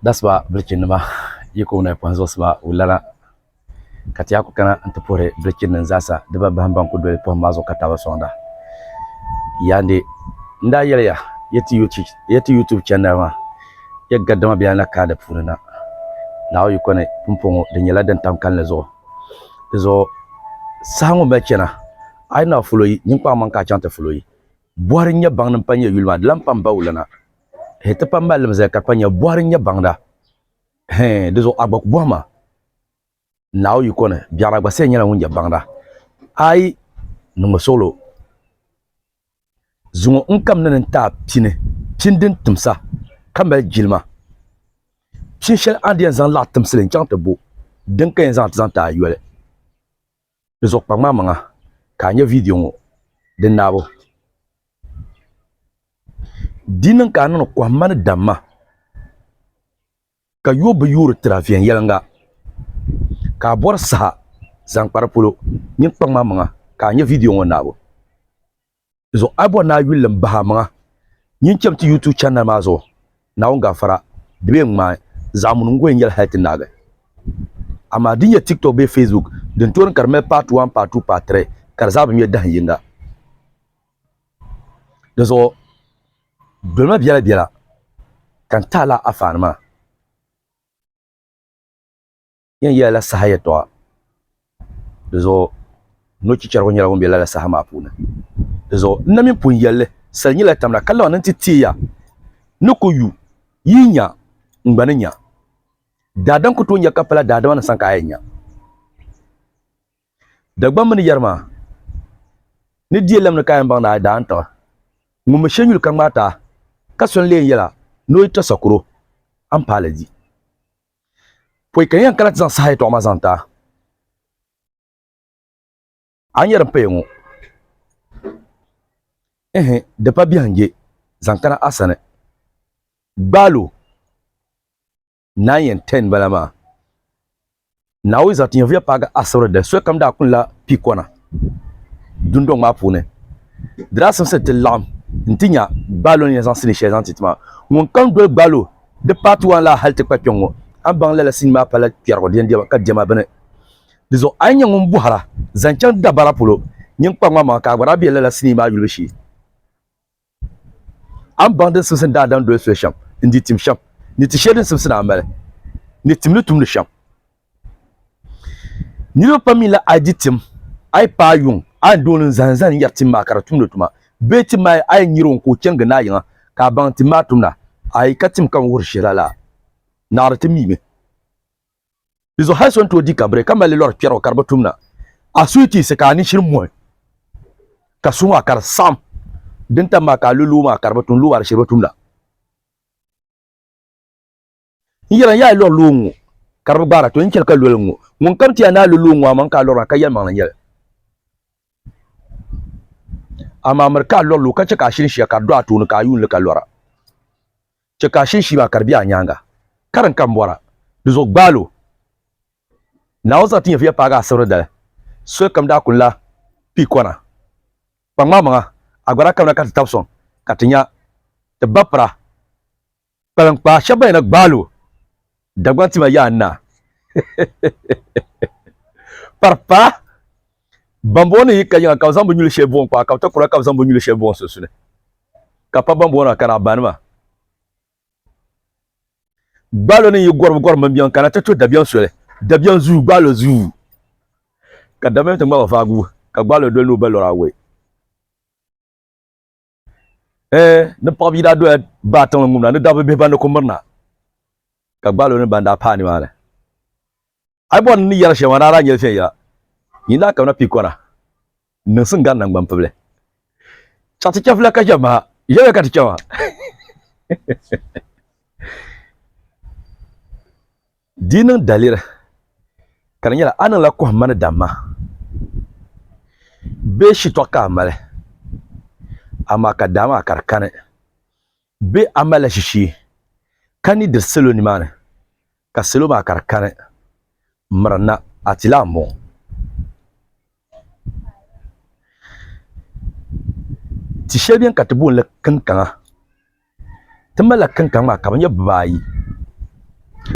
That's why biriki nima yi ko na kpanzuɣu sima o lana ka ti yaa ku kana n ti puhiri biriki nim zaasa di ba bahim ban ku doli pohim maa zuɣu ka tabi soŋda yaandi n daa yɛliya ya ti youtube channel maa ya gadama bɛ na kaa di puuni na naawo yi kɔni pumpɔŋɔ di nyɛla din tam kanli zuɣu di zuɣu saha ŋɔ mali chɛna a yi na fulo yi ninkpara man ka a chaŋ ti fulo yi Bɔhiri n-nyɛ baŋda m-pa n-nyɛ yuli maa, di lan pam ba wulana. Hee ti pam malilim zali ka kpa nya, bɔhiri n-nyɛ baŋda. Hee di zuɣu a gba ku bɔhi ma Naawuni yiko ni biɛɣuna gba sani nyɛla ŋun nyɛ baŋda. Ayi niŋmi suɣulo zuŋɔ n kamina ni n ti a pini, pini din timsa ka mali jilima. Pini shɛli a ni di yɛn zaŋ laɣ timsili n-chaŋ ti bo, din ka yɛn zaŋ ti zaŋ ti a yoli. Di zuɣu kpa ŋmamaŋa ka a nya viidiyo ŋɔ din naabo Di niŋ ka a niŋdi kɔhimma ni damma ka yo bi yoori tira viɛnyɛliŋga ka a bɔri saha zaŋ kpa di polo. Nyin kpa ŋmamaŋa ka a nya viidiyo ŋɔ naabo. zuɣu a bɔri ni a yuli n bahi a maŋa nyin cham ti YouTube channel maa zuɣu Naawuni gaafara di bee ŋmaai zaɣimuni n gol n yɛli hali ti naagi amaa din nyɛ TikTok bee Facebook din tooni ka di mali part 1 part 2 part 3 ka di zaa bi ŋmɛ dahin yinga di zuɣu dolima biɛla biɛla ka n tahi la a faani maa. Yen yela la saha yɛltɔɣa. Di zuɣu no chichɛrigu nyɛla ŋun be lala saha maa puuni. Di zuɣu n na mini pun yel li, sal nyila tamda ka laɣim ni nti teei ya ni ku yu yi nya n gba ni nya. Daadam ku tooi nya ka pala daadama ni sani ka a yɛn nya. Dagbam mini yɛri maa ni dielam ni ka a yɛn baŋ ni a yi daa n-tiɣi ŋun mi shenyuli ka ŋmaati a ka so n-lee yel a ni o yi tɔ sakuro a ni paai li di. Pɔi ka n yɛn kana ti zaŋ saha yɛtɔɣa maa zaŋ ti a. A ni yɛri n paya ŋɔ? Ɛhɛ, di pa biɛhiŋje zaŋ kana a sani. Gbaal o, Naa yɛn tɛni bala maa. Naawuni zaŋ ti nyɛvuya paagi asibiri dali solikam daa kuni la pi kɔna dundɔŋ maa puuni. Di daa simsi ti laɣim nti nya Gbaal o ni yɛn zaŋ sinii shɛli zaŋ ti ti maa. Ŋun kam doli Gbaal o Di part one la hali ti kpa kpɛŋ ŋɔ a ni baŋ lala sinii maa pala kpɛrigu di yɛn diɛma ka diɛma bini. Di zuɣu a yi nyɛ ŋun bɔhira zaŋ chaŋ dabara polo nyin kpa ŋmanmaŋa ka a gba daa be lala sinii maa yulibu shee. A ni baŋ din simsi ni daa daŋ doli soli shɛm n-di tim shɛm ni ti sheli din simsi ni a mali ni timli tumdi shɛm. Niriba pam mi la a di tim, a yi paai yuŋ, a ni di o ni zani zani yɛri tim maa ka di tumdi tuma, bee tim maa a yi nyari o ka o chani gindaa yiŋa ka a baŋ tim maa tumda, a yi ka tim ka n wuhiri shɛli a la, naɣiri ti mi mi. Dizuɣu hali so ni tooi di kabiri ka mali li lɔri kpɛrigu ka di bi tumda, a suhi ti yiɣisi ka a ni shiri muhi ka suhi maa ka di saɣim, din tam maa ka a lo loo maa ka di bi tum, loo maa di shiri bi tumda. N yɛra yaa lɔri loo ŋɔ ka di bi gbaara to n chɛli ka loli ŋɔ ŋun kam ti ya naa lo loo ŋɔ amaŋ ka a lɔra ka yɛlimaŋ la nyɛli amaa miri ka a lɔri loo ka chɛ ka a shiri shia ka di do a tooni ka a yuun li ka lɔra chɛ ka a shiri shii maa ka di be a nyaaŋa karin ka m bɔra di zuɣu gbaal o Naawuni zaŋ ti nyɛviya paagi asibiri dali solikam daa kuni la pii kɔna kpaŋmaamaŋa a gba daa kamina ka ti tab sɔŋ ka ti nya ti ba pira kpalinkpaa shɛba ban yɛn na gbaal o Dagbaŋ tima yaa naa. Paripaa bambuɣu ni yi ka yiŋa ka bɛ zaŋ bɛ nyuli shɛli buɣim kpaa ka bɛ takura ka bɛ zaŋ bɛ nyuli shɛli buɣim sunsuni ka pa bambuɣu na kana banima. Gbaalo ni yi gɔri gɔri mini biɛŋ kana ti to dabiɛŋ soli dabiɛŋ zuu gbaalo zuu ka dabiɛm ti ŋmaba vaagu ka gbaalo doli ni o ba lɔra awɔi. ee ni paɣa bia daa doya baa tiŋli ŋumna ni dabba bihi ban di ku mirina ka gbaalo ni ban daa paai nimaani a bɔri ni yɛri shɛŋa daa daa nyɛli viɛnyɛla yin daa kabina pii kɔna n niŋsim gari nangbani pibili chaɣ ti chɛfila ka chɛ maha ʒɛya ka ti chɛma Di niŋ daliri ka di nyɛla a niŋla kɔhimma ni damma bee shitɔɣu ka a mali, amaa ka daa maa ka di kani bee a malila shishee ka ni diri salo nimaani ka salo maa ka di kani, mirina a ti lan bɔŋɔ. Ti shɛli beni ka ti booni li kinkaŋa. Ti malila kinkaŋ maa ka bɛ nyɛ bibaayi.